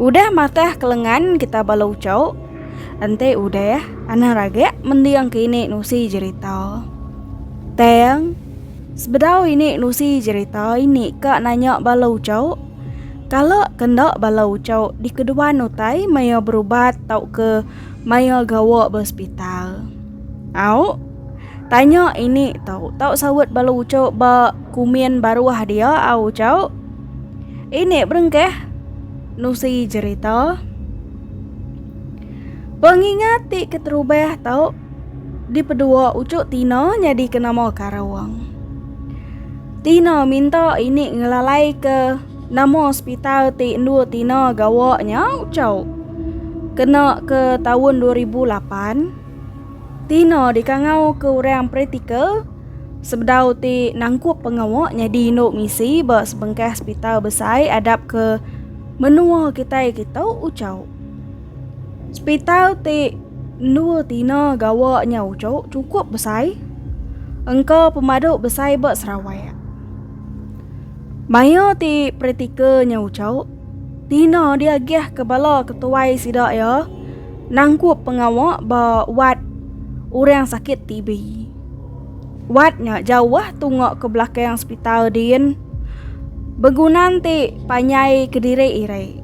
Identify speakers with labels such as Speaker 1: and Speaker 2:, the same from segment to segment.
Speaker 1: Udah matah ke lengan kita bala ucau. Enti udah, anang ragak mending ke ini nusi jerita. Tang, sebedau ini nusi jerita ini ka nanya bala ucau, kala ke enda bala ucau dikeduan utai maya berubat tauka maya gawa ba sepital. Au. Tanya ini tau. Tau saut bala uco ba kumin baruah dia au uco. Ini berengkah nusi jerita. Pengingat ti keterubah tau di pedua ucuk Tina nyadi ke nama Karawang. Tina minta ini ngelalai ke nama hospital ti endur Tina gawa nya ucuk. Kena ke tahun 2008, Ti no dikangau ke orang praktikal sebedau ti nangkup pengawa nyadi indu misi ba sebengkah sepital besai adap ke menua kitai kitu uchu. Sepital ti endur tina gawa nya uchu chukup besai engka pemadu besai ba Sarawak. Maia ti praktikal nya uchu. Tina diagihka bala ketuai sida iya nangkup pengawa ba wad orang sakit TB. Wad nya jauh tunga ke belakang sepital din. Begunan ti panjai kediri iri.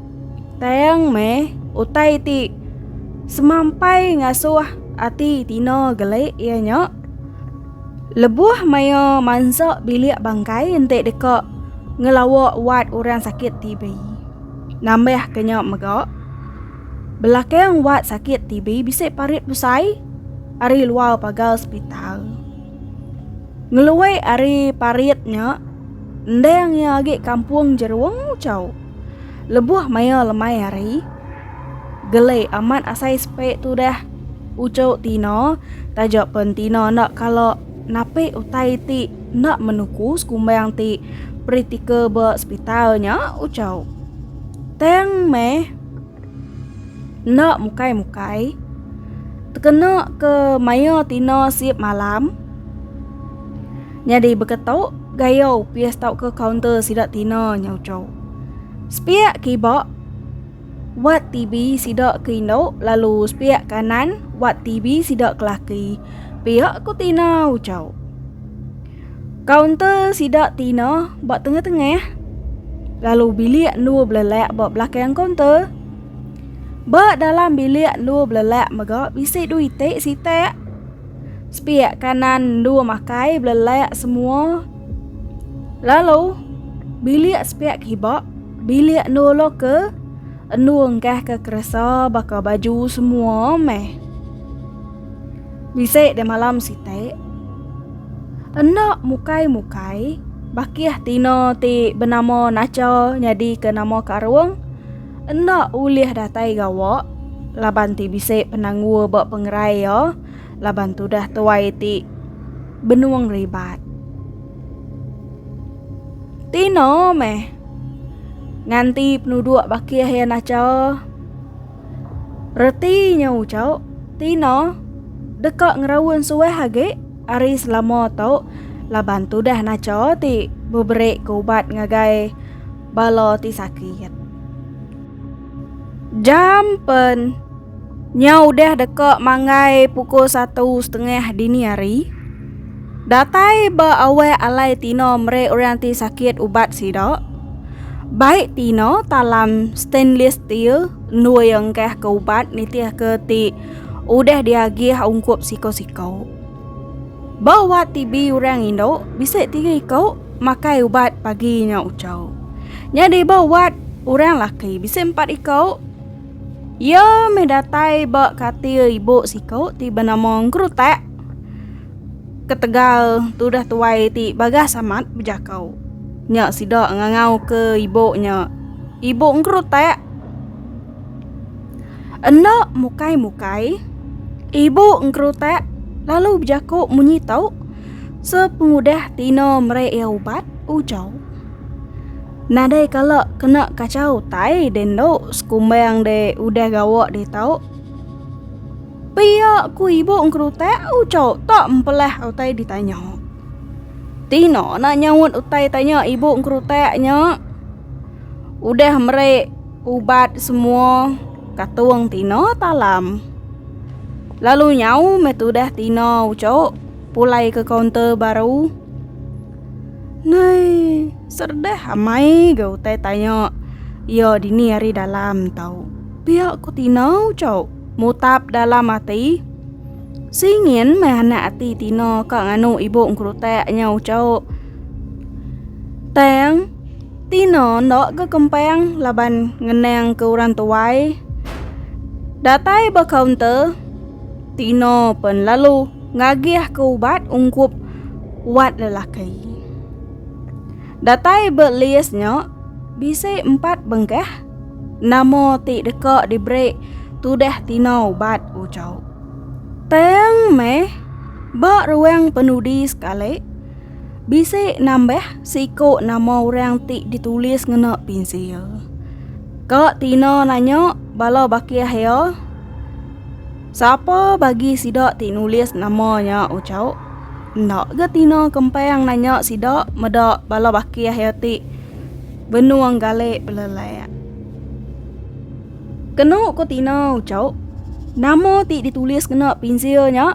Speaker 1: Tang meh utai ti semampai ngasuh ati Tina geli iya nya. Lebuh maya mansa bilik bangkai enti deka ngelawa wad orang sakit TB. Nambah ke nya mega, belakang wad sakit TB bisi parit besai ari luar pagar sepital. Ngelui ari parit nya, endang iya agi kampung Jerung, Chau. Lebuh maya lemai hari, gele amat asai sepe tu dah. Ucu Tina taja pen Tina enda kala napi utai ti enda menuku sekumbang ti periktika ba sepital nya ucu. Tang meh enda mukai-mukai tekena ke maya Tina sip malam. Nyadi baka tu, gayau pias tauka kaunter sida tina nyauchau. Sepiak kiba wat TV sida ke indu lalu sepiak kanan wat TV sida ke laki. Pia ku tina uchau. Kaunter sida tina ba tengah-tengah lalu bilik endur belelak ba belakang kaunter. Ba dalam bilik endur belelak mega bisi dua itik sitak. Sepiak kanan dua makai belelak semua. Lalu bilik sepiak kiba bilik nolo ke endu enggah ke keresa baka baju semua meh. Bisi de malam sitik. Enda mukai-mukai bakih tina ti benama Nacha nyadi ke nama Karung. Enda ulih datai gawa laban ti bisi penanggul ba pengerai iya laban tudah tuai ti benung ribat. Tino meh nganti penuduk bakih iya nacha reti nya ucau tino deka ngeraun suah agi ari selama tu laban tudah nacha ti beberi ke ubat ngagai. bala ti sakit. Jam pen nya udah deka manggai pukul satu setengah dini hari. Datai ba awak alai Tino meri orang ti sakit ubat sida. Bai Tino talam stainless steel endur iya engkahka ubat nitihka ti udah diagih ungkup siku-siku. Ba ubat TB orang indu, bisi tiga iku makai ubat pagi nya uchu. Nyadi ba ubat orang laki bisi empat iku. Iya meh datai ba katil ibu siku ti benama Engkerutak ketegal tudah tuai ti Bagas amat bejaka. Nya sida ngangau ke ibu nya Ibu Engkerutak. Enda mukai-mukai, ibu engkerutak lalu bejaku munyi tu sepengudah Tina meri iya ubat, ujar. Nadai kala kena kacau tai din tu sekumbang de udah gawa di tau. Pia ku ibu engkerutak ujar tak empelah utai ditanya. Tina nak nyaut utai tanya ibu engkerutak nya udah meri Ubat semua katung tina talam. Lalu nyau meh tudah tina ucok pulai ke kaunter baru. Nai, serdah amai ga utai tanya iya dini ari dalam tau. Pia ko tina ucok mutap dalam ati. Singin meh anak ati tina ka nganu ibu engkerutak nya ucok. Tang. Tina enda ke kempang laban ngenang ke orang tuai. Datai ba kaunter, Tina pen lalu ngagih ke ubat ungkup wat lelaki. Datai ba list nya bisi empat bengkah nama ti deka diberi tudah Tina ubat ujau. Tang meh ba ruang penudi sekali, Bisi nambah seiku nama orang ti ditulis ngena pinsil. Ka Tina nanya bala bakih iya, Sapa bagi sida ti nulis nama nya uchauk? Enda ga Tina kempang nanya sida meda bala bakih iya ti benung galek belelak. Kenu ku Tina uchauk, nama ti ditulis ngena pinsil nya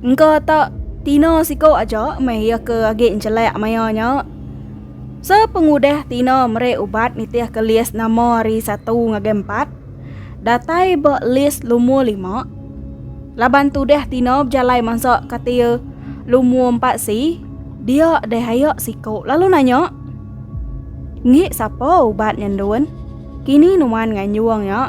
Speaker 1: Engka ta tina siko aja meh iya ke agi enjelak maya nya. Sepengudah tina meri ubat nitih ke list nama hari satu ngagai empat, datai ba list lumur lima. Laban tudah tina bejalai mansa katil lumur empat si, dia deh aya siko lalu nanya. Ngi sapa ubat nya ndun? Kini nuan nganjung nya.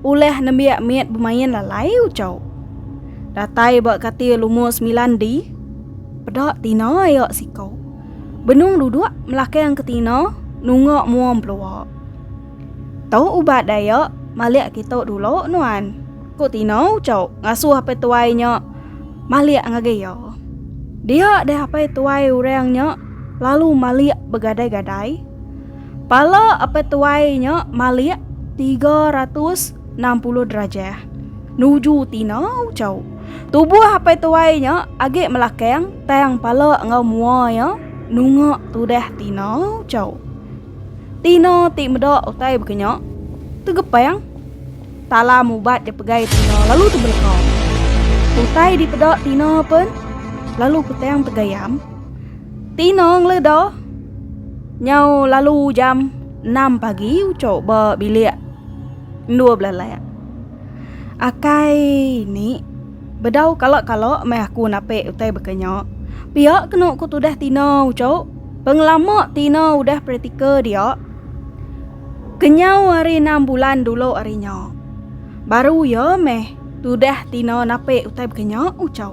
Speaker 1: Ulah nembiak mit bemain lalai ucau. Datai ba katil lumur sembilan di. Peda tina ayak siko. Benung duduk melakang ke tina nungak mua belua. Tau ubat dayak malik kita dulu nuan. Ku tina ucau ngasuh apai tuai nya malik ngagai iya. Dia deh apai tuai orang nya lalu malik begadai-gadai. Pala apai tuai nya malik tiga ratus enam puluh derajah. Nuju tinau cau. Tubuh apai tuai nya agi melakang tang pala enggau mua iya nunga tudah tinau cau. Tina ti meda utai bekenya tegepang talam ubat dipegai tina lalu tebeleka. Utai dipeda tina pen lalu petang tegayam. Tinong le do. Nyau lalu jam enam pagi uco ba bilik endur belalak. Akai ni bedau kala kala meh aku nape utai baka nya. Pia kenu ku tudah Tina uco pengelama Tina udah practical dia kenyau hari enam bulan dulu hari nya. Baru ya meh tudah Tina nape utai baka nya uco.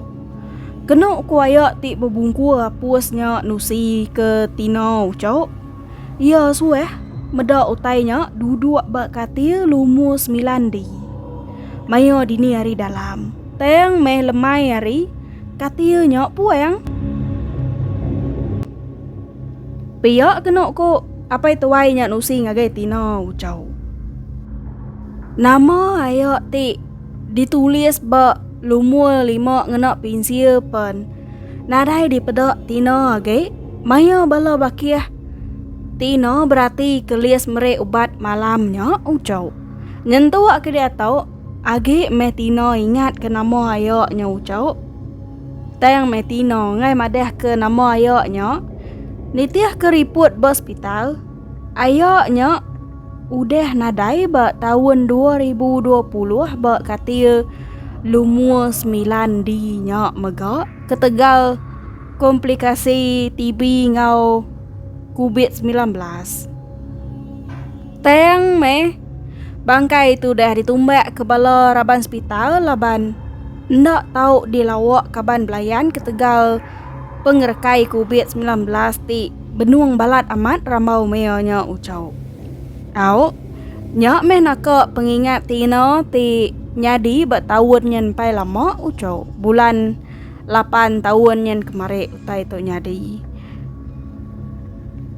Speaker 1: Kenu ku aya ti bebungkur apus nya nusi ke tino ucok. Iya suah meda utai nya duduk ba katil lumur semilan di. Maya dini hari dalam, tang meh lemai hari, katil nya puang. Pia kenu ku apai tuai nya nusi ngagai tino ucok. Nama aya ti Ditulis ba Lumur lima ngena pinsil pen. Nadai dipeda Tina agi maya bala bakih. Tina berati kelis meri ubat malam nya Ucok. Nyentuk ke diatok agi meh Tina ingat ke nama aya nya Ucok. Tang meh Tina ngai madah ke nama aya nya. Nitih ke riput ba sepital. Aya nya Udah nadai ba taun dua ribu dua puluh ba katil lumur semilan di nya mega ketegal komplikasi TB enggau Covid semilan belas. Tang meh bangkai tu dah ditumbak ke bala raban sepital laban enda tau dilawa kaban belayan ketegal pengerekai Covid semilan belas ti benung balat amat rambau maya nya uchau. Tau, nya meh naka pengingat ti ina ti nyadi ba taun nyin empai lama uchau bulan lapan taun nyin kemari utai tu nyadi.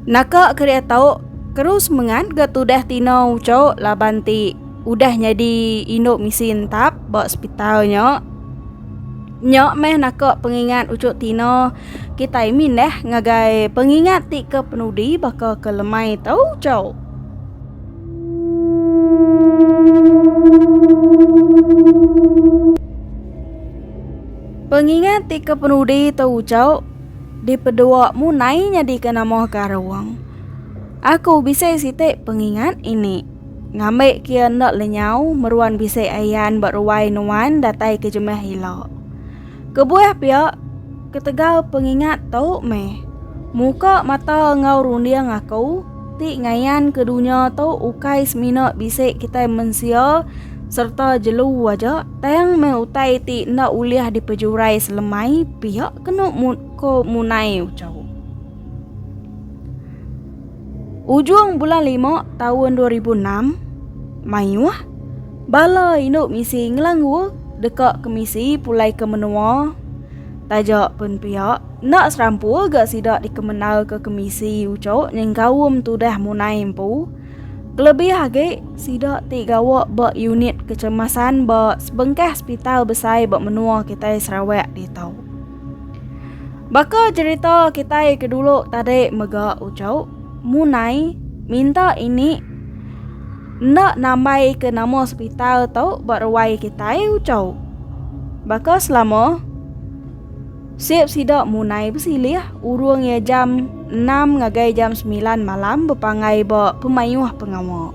Speaker 1: Naka keria tau keru semengat ga tudah ti ina uchau laban ti udah nyadi indu misi entap ba sepital nya. Nya meh naka pengingat uchu Tina, kitai mindah ngagai pengingat ti ke penudi baka ke lemai tu uchu. Pengingat ti ke penudi tu uchu dipedua munai nyadika nama karung. Aku bisi siti pengingat ini. Ngambi kia enda lenyau meruan bisi ayan ba ruai nuan datai ke jemah ila. Kebuah pia ketegal pengingat tu meh muka mata enggau runding aku ti ngayan ke dunya tu ukai semina bisi kitai mensia sereta jelu aja tang meh utai ti enda ulih dipejurai selemai pia kenu ko munai uchu. Ujung bulan lima tahun 2006, mayuh bala indu misi ngelanggu deka ke misi pulai ke menua. Taja pun pia, enda serampur ga sida dikemendarka ke misi uchu nyengkaum tudah munai empu. Kelebih agi, sida ti gawa ba unit kecemasan ba sebengkah sepital besai ba menua kitai Sarawak ditu. Baka cerita kitai ke dulu tadi mega ucau, munai minta ini enda nambai ke nama sepital tu ba ruai kitai ucau. Baka selama sip sida munai besilih urung iya jam 6 ngagai jam 9 malam bepanggai ba pemayuh pengawa.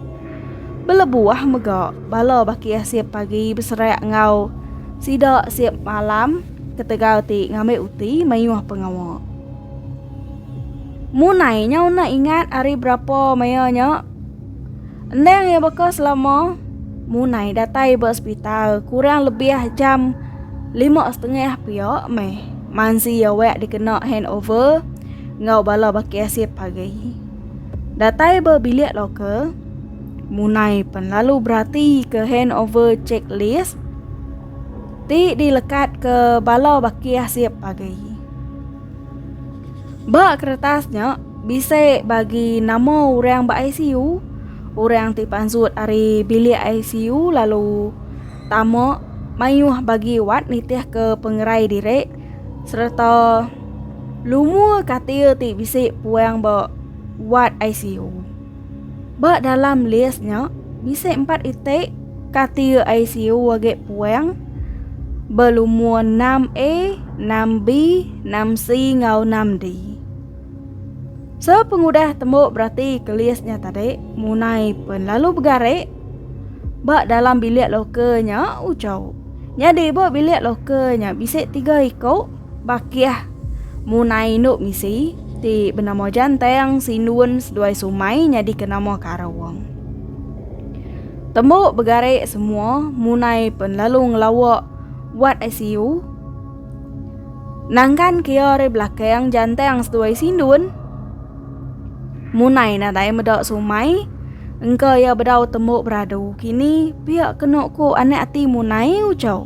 Speaker 1: Belebuh mega bala bakih sip pagi beserak enggau sida sip malam. ketegal ti ngambi uti mayuh pengawa. Munai nyau enda ingat ari berapa maya nya endang iya baka selama munai datai ba sepital kurang lebih jam lima setengah pia meh mansi iya wek dikena handover enggau bala baki asit pagi. Datai ba bilik loka, Munai pen lalu berati ke handover checklist Ti dilekat ke bala bakih sip agi. Ba keretas nya bisi bagi nama orang ba ICU, orang ti pansut ari bilik ICU lalu tama mayuh bagi wat nitih ke pengerai diri sereta lumur katil ti bisi puang ba wat ICU. Ba dalam list nya, bisi empat iti ka tiu ICU agi puang belumur 6A, 6B, 6C enggau 6D. Sepengudah tembu beratika list nya tadi, munai pen lalu begari ba dalam bilik loka nya uchu. Nyadi ba bilik loka nya bisi tiga iku. Bakih, Munai indu misi ti benama Janteng, Sindun seduai Sumai nyadika nama ke arah wong. Tembu begari semua munai pen lalu ngelawa wad ICU. Nangkan ke iya ari belakang Janteng seduai Sindun. Munai nadai meda Sumai engka iya bedau tembu beradu kini pia kenu ku anak ati munai Uchau.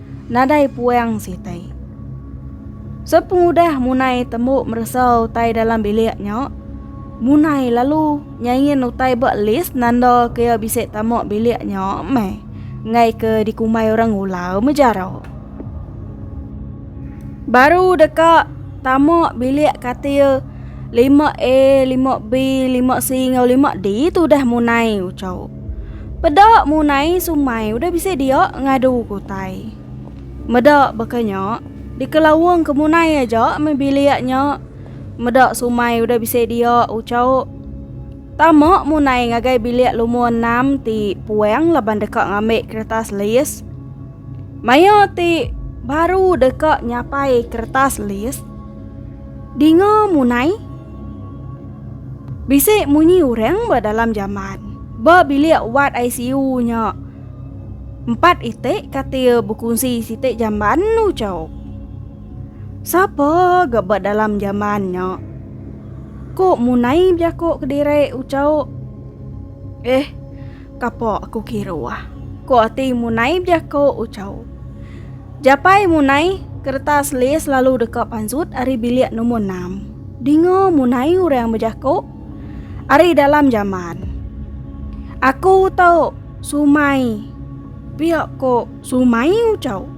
Speaker 1: nadai puang sitai. Sepengudah Munai tembu meresa utai dalam bilik nya, Munai lalu nyain utai ba list nanda ke iya bisi tama bilik nya meh enggai ke dikumbai orang ula mejara. Baru deka tama bilik katil 5A, 5B, 5C enggau 5D tu udah Munai uchau. Peda munai sumai udah bisi dia ngadu kutai. Meda baka nya, dikelaung ke munai aja meh bilik nya. Meda sumai udah bisi dia ucau. Tama munai ngagai bilik lumur enam ti puang laban deka ngambi keretas lis. Maya ti baru deka nyapai keretas lis, dinga munai. Bisi munyi orang ba dalam jamban ba bilik wad ICU nya. Empat iti katil bekunsi siti jamban ucau. Sapa ga ba dalam jamban nya? Ko munai bejako kediri ucau. Eh, Kapok aku kiruh. Ko ati munai bejako Uchau. Japai munai keretas lis lalu deka panzut ari bilik numur enam. Dinga munai urang bejako ari dalam jamban. Aku tau sumai pia ko sumai Uchau.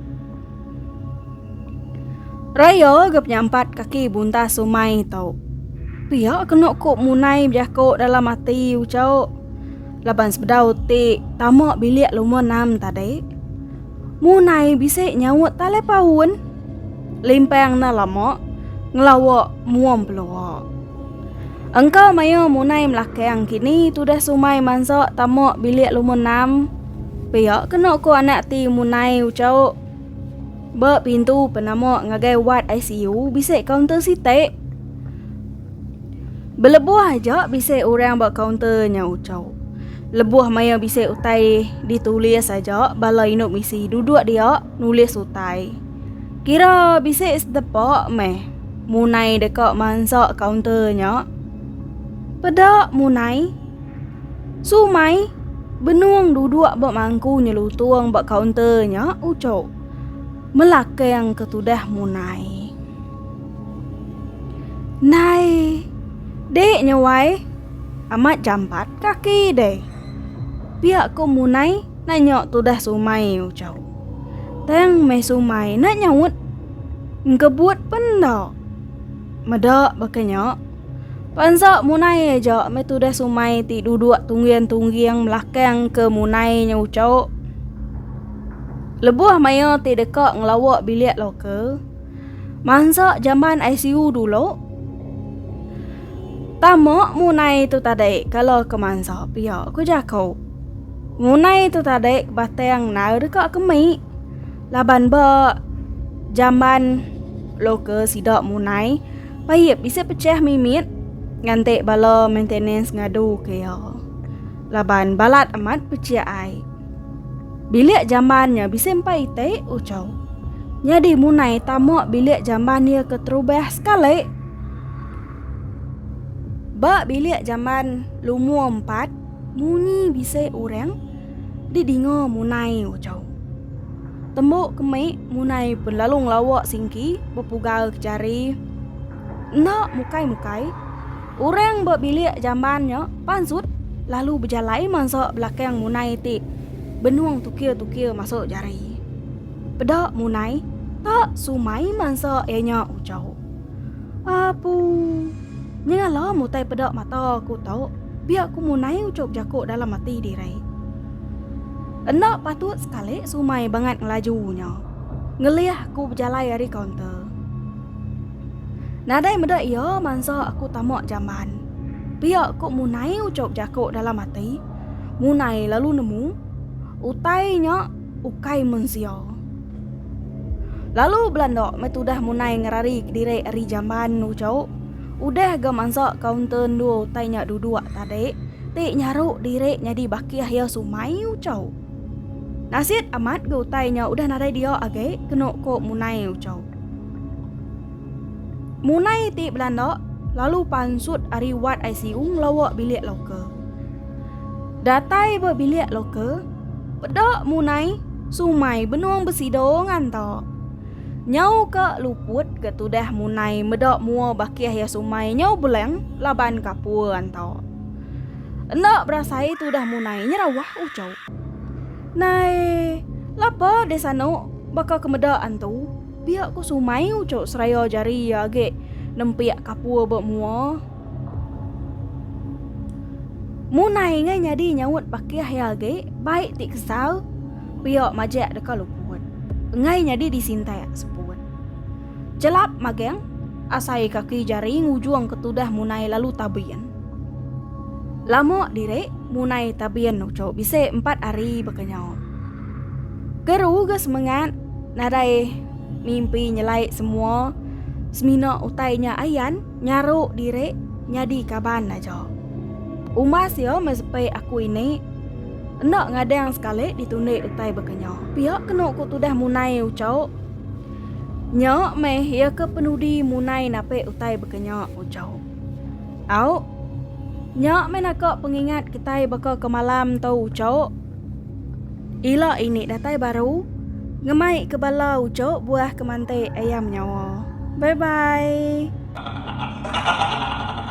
Speaker 1: Raya ga penyampat kaki buntas umai tu. Pia kena ku munai bejako dalam ati ucok laban sebedau ti tama bilik luma enam tadi. Munai bisi nyaut telepaun limpang enda lama ngelawa muam pelua. Engka maya munai melakang kini tudah sumai mansa tama bilik luma enam. Pia kena ko anak ti munai uchauk. Ba pintu penama ngagai wad ICU bisi kaunter sitik. Belebuh aja bisi orang ba kaunter nya uchauk. Lebuh maya bisi utai ditulis aja bala indu misi duduk dia nulis utai. Kira bisi sedepa meh munai deka mansa kaunter nya. Peda munai. Sumai, benung duduk ba mangku nyelutung ba kaunter nya ucuk. Melakang ke tudah munai. Nai, dek nya wai. Amat jampat kaki deh. Pia ko munai nanya tudah sumai ucuk. Tang meh sumai nak nyaut. Engkebut pen enda. Meda baka nya. Pansa munai aja meh tudah sumai ti duduk tungging-tungging belakang ke munai nya ucok. Lebuh maya ti deka ngelawa bilik loka, mansa jamban ICU dulu. Tama munai tu tadai kala ke mansa pia ku jako. Munai tu tadai ke batang nau deka kemik. Laban ba jamban loka sida munai. Payip bisi pecah mimit nganti bala maintenance ngadu ke iya. Laban balat amat pecah ai. Bilik jamban nya bisi empai iti ucau. Nyadi munai tama bilik jamban dia ke terubah sekali. Ba bilik jamban lumur empat munyi bisi orang didinga munai ucau. Tembu kemi munai belalu ngelawa singki bepugal ke jari. Enda mukai-mukai, orang ba bilik jamban nya pansut lalu bejalai mansa belakang munai ti benung tukir-tukir masuk jari. Peda munai tak sumai mansa iya nya ujau. Apu. Nyengah lom utai peda mata aku tu, pia aku munai uchup jaku dalam ati diri. Enda patut sekali sumai bangat ngelaju nya. Ngelih aku bejalai ari kaunter. Nadai meda iya mansa aku tama jamban. Pia aku munai uchup jaku dalam ati, munai lalu nemu utai nya ukai mensia. Lalu belanda meh tudah munai ngerari kediri ari jamban nu jauh. Udah ga mansa kaunter endur utai nya duduk tadi, ti nyaru diri nyadi bakih iya sumai ucau. Nasit amat ga utai nya udah nadai dia agi kenu ko munai ucau. Munai ti belanda lalu pansut ari wad ICU ngelawa bilik loka. Datai ba bilik loka, Peda munai sumai benung besidor nganta. Nyau ke luput ke tudah munai meda mua bakih ya sumai nyau beleng laban kapur nganta. Enda berasai tudah munai nyerawah ucau. Nai, lapa deh sanu baka kemeda antu, biak ku sumai ucau seraya jari iya agi nempik kapur ba mua. Munai ngai nyadi nyaut bakih iya agi, bai ti kesal, pia majak deka luput. Enggai nyadi disintak seput. Chelap magang, asai kaki jari ngujung ke tudah munai lalu tabin. Lama diri, munai tabin uchu bisi empat hari baka nyau. Keru ga semengat, nadai mimpi nyelai semua semina utai nya ayan. Nyaru diri nyadi kaban aja. Umas iya meh sepi aku ini. Enda ngadang sekali ditundi utai baka nya. Pia kenu ku tudah munai uchauk. Nya meh iya ke penudi munai napi utai baka nya uchauk. Au. Nya meh naka pengingat kitai baka ke malam tu uchauk. Ila ini datai baru. Ngemai ke bala ujuk buah ke mantik ayam nyawa. Bye bye.